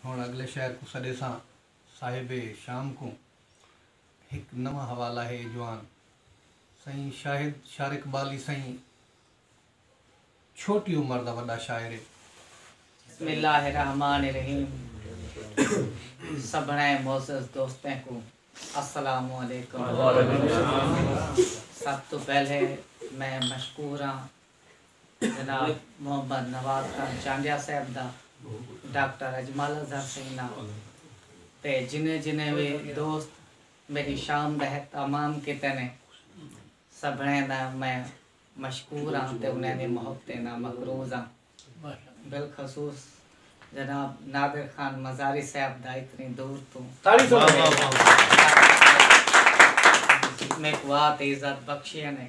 ہݨ اڳلے شعر کوں سݙیساں صاحب شام کوں ہک نواں حوالہ ہے اے جوان سئیں شاہد شار اقبالی سئیں چھوٹی عمر دا وݙا شاعر ہے۔ بسم اللہ الرحمن الرحیم سبھنیں معزز دوستیں کوں السلام علیکم سب توں پہلے میں مشکور ہاں جناب محمد نواز خان چانڈیا صاحب دا، ڈاکٹر اجمل اظہر سئیں دا تے جنہیں جنہیں وی دوست میݙی شام دا اہتمام کیتے نے سبھڑیں دا میں مشکور ہاں تے انہیں دی محبتیں دا مقروض ہاں۔ بالخصوص جناب نادر خان مزاری صاحب دا اتنی دور توں میکوں آ تے عزت بخشیے نے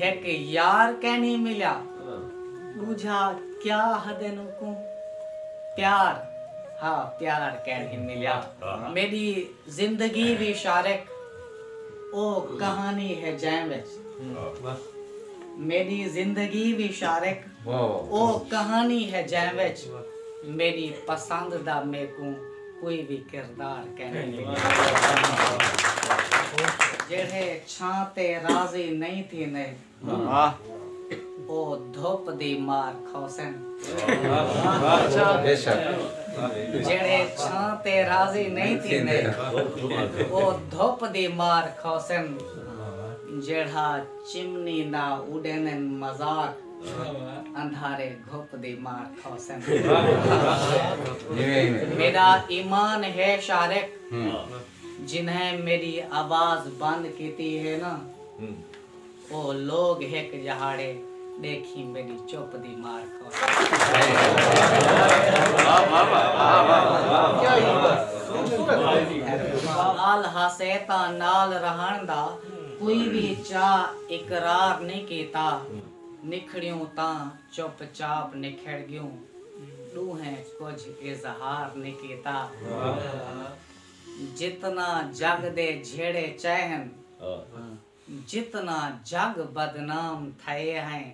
ہک یار کینھی ملیا ڈوجھا کیا ہدن اکوں پیار ہا پیار کینھی ملیا میڈی زندگی دی شارک او کہانی ہے جیں وچ میڈی زندگی دی شارک او کہانی ہے جیں وچ میڈی پسند دا میکوں کوئی وی کردار کینی جیڑھے چھاں تے راضی نئیں تھیندے او دھپ دی مار کھوسن جیڑھے چھاں تے راضی نئیں تھیندے او دھپ دی مار کھوسن جیڑھا چمنی دا اڈیندن مذاق اندھارے گھپ دی مار کھوسن۔ میڈا ایمان ہے شارق جنہیں میڈی آواز بند کیتی ہے نا او لوگ ہک جہاڑے ڈیکھیں میڈی چپ دی مار کھوسن۔ حال ہاسے تاں نال رہن دا۔ کوئی وی چا اقرار نئیں کیتا نکھڑیوں تاں چپ چاپ نکھڑ گیوں ڈوہیں کجھ اظہار نئیں کیتا جتنا جگ دے جھیڑے چئے ہن جتنا جگ بدنام تھئے ہئیں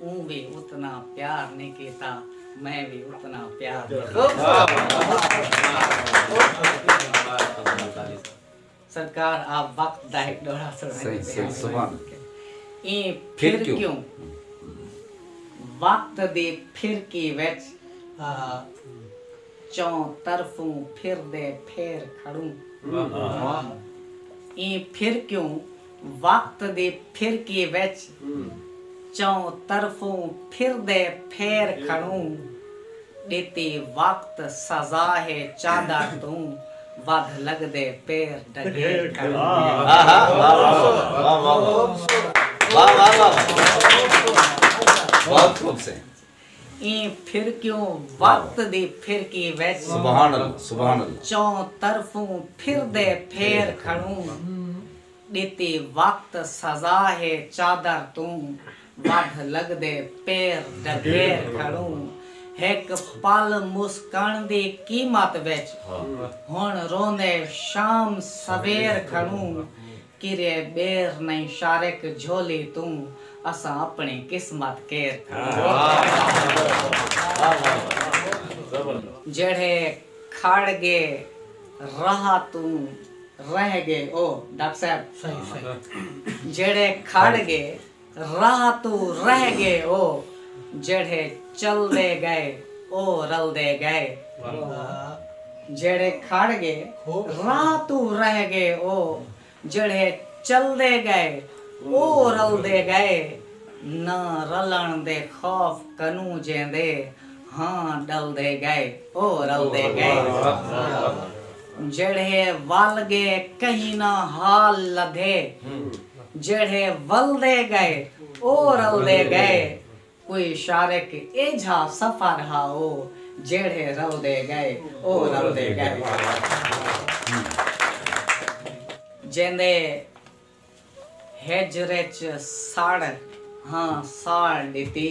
اوں وی اتنا پیار نئیں کیتا میں وی اتنا پیار نئیں کیتا۔ سرکار آپ وقت دا ہک دورہ فرمائیندے پئے ہن۔ ایں پھر کیوں؟ وقت دی پھرکی وچ چوں طرفوں پھردے پھیر کھڑوں۔ ایں پھر کیوں؟ وقت دے پھرکے وچ چؤں طرفوں پھردے پھیر کھڑوں ݙتے وقت سزا ہے چادر توں ودھ لڳدے پیر ڈگھیر کھڑوں۔ ایں پھرکیوں وقت دی پھرکی وچ چوں طرفوں پھردے پھیر کھڑوں ݙتی وقت سزا ہے چادر توں ودھ لڳدے پیر ڈگھیر کھڑوں ہک پل مسکݨ دی قیمت وچ ہݨ روندے شام سویر کھڑوں کرے ٻیر نئیں شارق جھولی توں اساں اپنڑی قسمت کیر کھڑے۔ جیڑھے کھڑ گے راہ توں رہ گے او ڈاکٹر صاحب جیڑھے کھڑ گے۔ راہ توں رہ گے او جیڑھے چلدے گئے او رلدے گئے جیڑھے کھڑ گے راہ توں رہ گے او جیڑھے چلدے گئے او رلدے گئے نہ رلن دے خوف کنوں جیندے ہاں ڈلدے گئے او رلدے گئے جیڑھے ول گے کہیں نہ حال لدھے۔ جیڑھے ولدے ڳئے او رلدے ڳئے کوئی شارق ایجھا سفر ہا او جیڑھے رلدے ڳئے او رلدے ڳئے جیندے ہجر اچ سڑ ہاں ساڑ ݙتی۔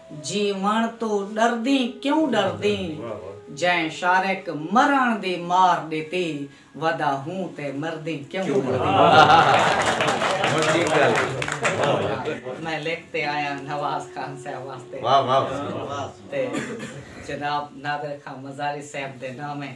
جیوݨ توں ݙردیں کیوں ݙردیں جئیں شارق مرݨ دی مار ݙتی ودا ہوں تے مردیں کیوں مردیں۔ میں لکھ تے آیاں نواز خان صاحب واسطے تے جناب نادر خاں مزاری صاحب دے نامیں۔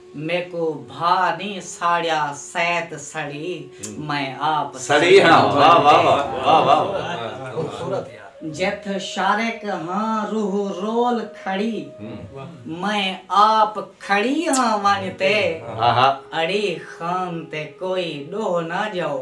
میکوں بھا نیں ساڑیا سیت سڑی میں آپ سڑی ہاں واہ واہ واہ واہ واہ جتھ شارق ہاں روح رول کھڑی میں آپ کھڑی ہاں ونج تے اڑی خان تے کوئی ڈوہ نہ جاؤ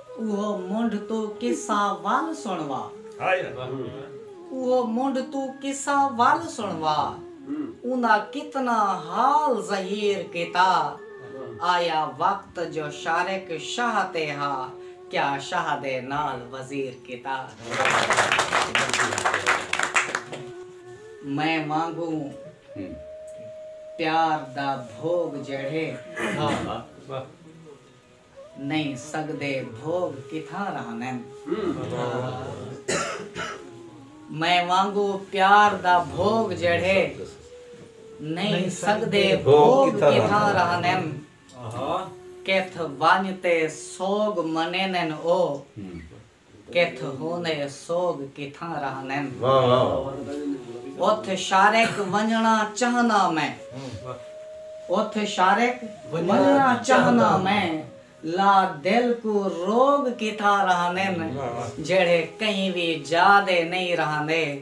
اوہو منڈھ توں قصہ ول سنوا۔ اوہو منڈھ توں قصہ ول سنوا۔ اوندا کتنا حال ظہیر کیتا۔ آیا وقت جو شارق شاہ تے ہا۔ کیا شاہ دے نال وزیر کیتا۔ میں وانگوں پیار دا بھوگ جیڑھے ہا۔ نئیں سڳدے بھوڳ کتھاں رہندن۔ میں وانگوں پیار دا بھوڳ جیڑھے نئیں سڳدے بھوڳ کتھاں رہندن۔ کتھ ونڄ تے سوڳ منیندن او کتھ ہوندے سوگ کتھاں رہندن۔ اتھ شارک ونجنڑاں چہنداں میں۔ اتھ شارک ونجنڑاں چہنداں میں۔ لا دل کوں روگ کتھاں رہندن۔ جیڑھے کہیں وی جا دے نئیں رہندے۔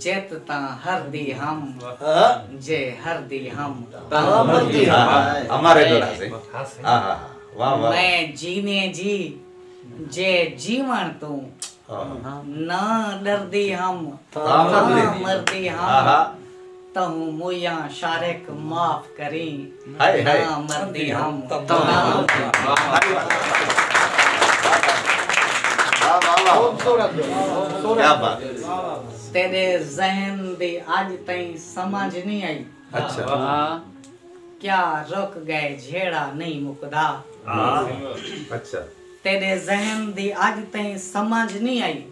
جت تاں ہر دی ہم جے ہر دی ہم تاں مر دی ہم میں جیویں جی جے جیون توں نہ ڈر دی ہم تاں مر دی ہم تہوں مویاں شارق معاف کریں ناں مردی ہم تیڈے ذہن دی اج تئیں سمجھ نی آئی کیا رک گئے جھیڑا نی مکدا تیڈے ذہن دی اج تئیں سمجھ نی آئی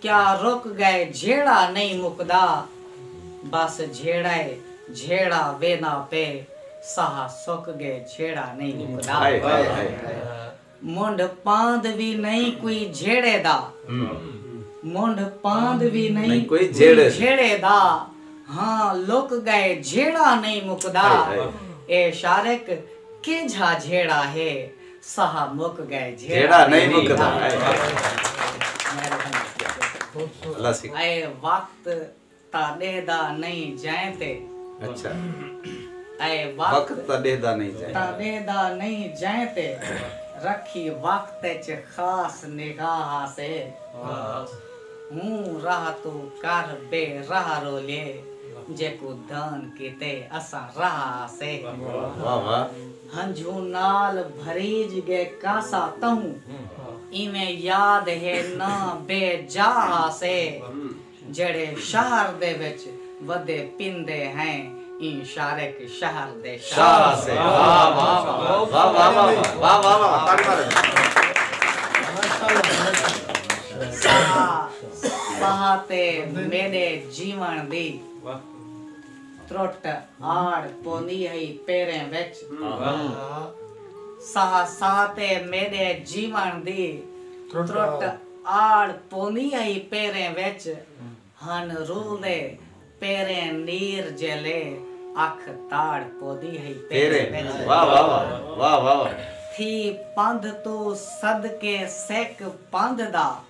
کیا رک گئے جھیڑا نئیں مکدا بس جھیڑائے جھیڑا وینا پے ساہ سک گئے جھیڑا نئیں مکدا منڈھ پاند وی نئیں کوئی جھیڑے دا منڈھ پاند وی نئیں کوئی جھیڑے دا ہاں لک گئے جھیڑا نئیں مکدا اے شارق کیجھا جھیڑا ہے ساہ مک گئے جھیڑا نئیں مکدا اے وقت تاں ڈہدا نئیں جئیں تے اے وقت تاں ڈہدا نئیں جئیں تے رکھی وقت اچ خاص نگاہ آسے ہوں راہ توں کر بے راہ رولیے جیکوں دان کیتے اساں راہ آسے۔ ہنجھوں نال بھریج ڳئے کاسا تہوں ایویں یاد ہے نہ بے جا آسے جیڑھے شہر دے وچ ودے پیندے ہیں ایں شارک شہر دے شاہ آسے۔ ساہ ساہ تے میݙے جیوݨ دی۔ ترٹ آڑ پوندی ہئی پیریں وچ۔ ساہ ساہ تے میݙے جیوݨ دی ترٹ آڑ پوندی ہئی پیریں وچ ہن رلدے پیریں نیر جیلے اکھ تاڑ پوندی ہئی پیریں وچ۔ تھی پندھ توں صدقے سک پندھ دا۔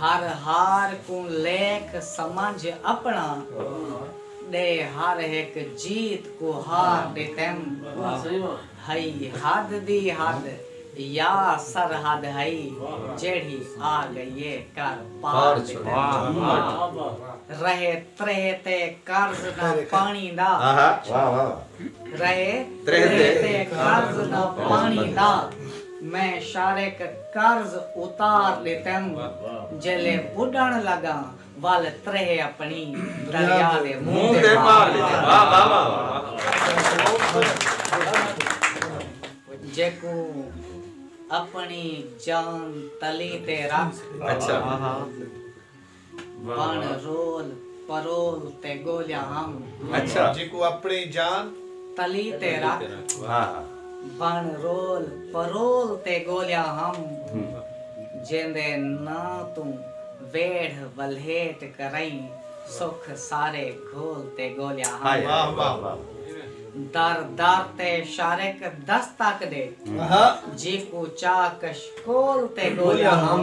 ہر ہار کوں لیکھ سمجھ اپݨا ݙے ہر ہک جیت کوں ہار ݙتیم ہئی حد دی حد یا سرحد ہئی جیڑھی آ ڳئی اے کر پار ݙتیم رہے تریہہ تے قرض نہ پاݨی دا رہے تریہہ تے قرض نہ پاݨی دا۔ میں شارق قرض اتار ݙتم جیلے ٻݙݨ لڳاں ول تریہہ اپݨی دریا دے منہ تے مار ݙتم جیکوں اپݨی جان تلی تے رکھ بݨ رول پرول تے ڳولیا ہم۔ اچھا۔ جیکوں اپݨی جان۔ تلی تے رکھ۔ ہا ہا۔ بݨ رول پرول تے ڳولیا ہم۔ جیندے ناں توں ویڑھ ولھیٹ کرئیں سکھ سارے گھول تے ڳولیا ہم۔ ہائے ہائے واہ واہ۔ در در تے شارق دستک ݙے۔ ہا۔ جیکوں چا کشکول تے ڳولیا ہم۔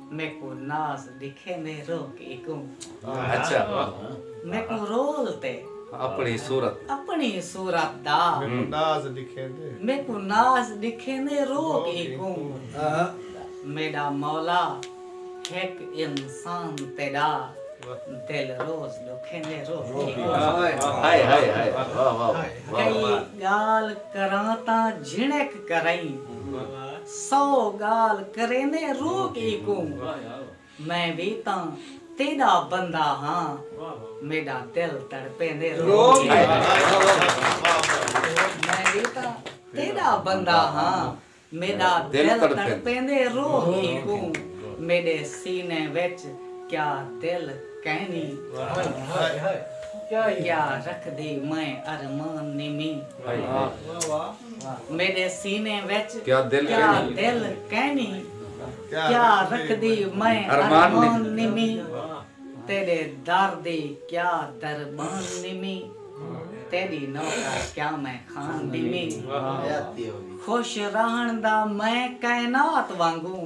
میکوں ناز ڈکھیندے روہ کی کوں۔ اچھا۔ میکوں رول تے۔ اپنی صورت۔ اپنی صورت دا۔ میکوں ناز ڈکھیندے۔ میکوں ناز ڈکھیندے روہ کی کوں۔ میڈا مولا ہک انسان تیڈا دل روز ڈکھیندے روہ کی کوں۔ ہائے ہائے ہائے واہ واہ واہ۔ کئی گال کراں تاں جھنک کرئیں۔ سو ڳالھ کریندے روک ای کوں میں وی تاں تیݙا بندہ ہاں میݙا دل تڑپیندے روک ای کوں میں وی تاں تیݙا بندہ ہاں میݙا دل تڑپیندے روک ای کوں میݙے سینے وچ کیا دل کینی کیا رکھدی میں ارمان نی میں میݙے سینے وچ کیا دل کینی کیا رکھدی میں ارمان نیمی تیݙے در دی کیا دربان نیمی تیݙی نوکر کیا میں خان نیمی خوش رہݨ دا میں کائنات وانگوں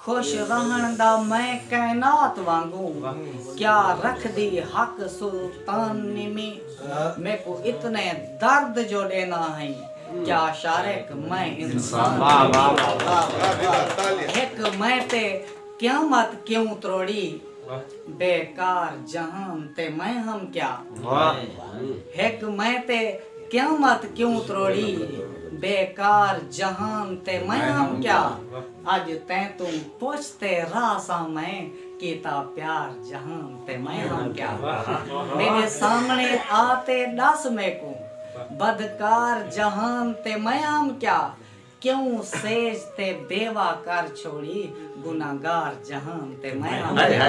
خوش رہݨ دا میں کائنات وانگوں کیا رکھدی حق سلطان نمی میکوں اتنے درد جو ݙینا ہئیں کیا شارق میں انسان نمی ہک میں تے قیامت کیوں تروڑی بے کار جہان تے میں ہم کیا ہک میں تے قیامت کیوں تروڑی بے کار جہان تے میں ہم کیا۔ اج تیں توں پچھ تے راہ ساں میں کیتا پیار جہان تے میں ہاں کیا میڈے سامنے آ تے ڈس میکوں بدکار جہان تے میں ہام کیا کیوں سیج تے بیوہ کر چھوڑی گنہگار جہان تے میں ہاں کیا۔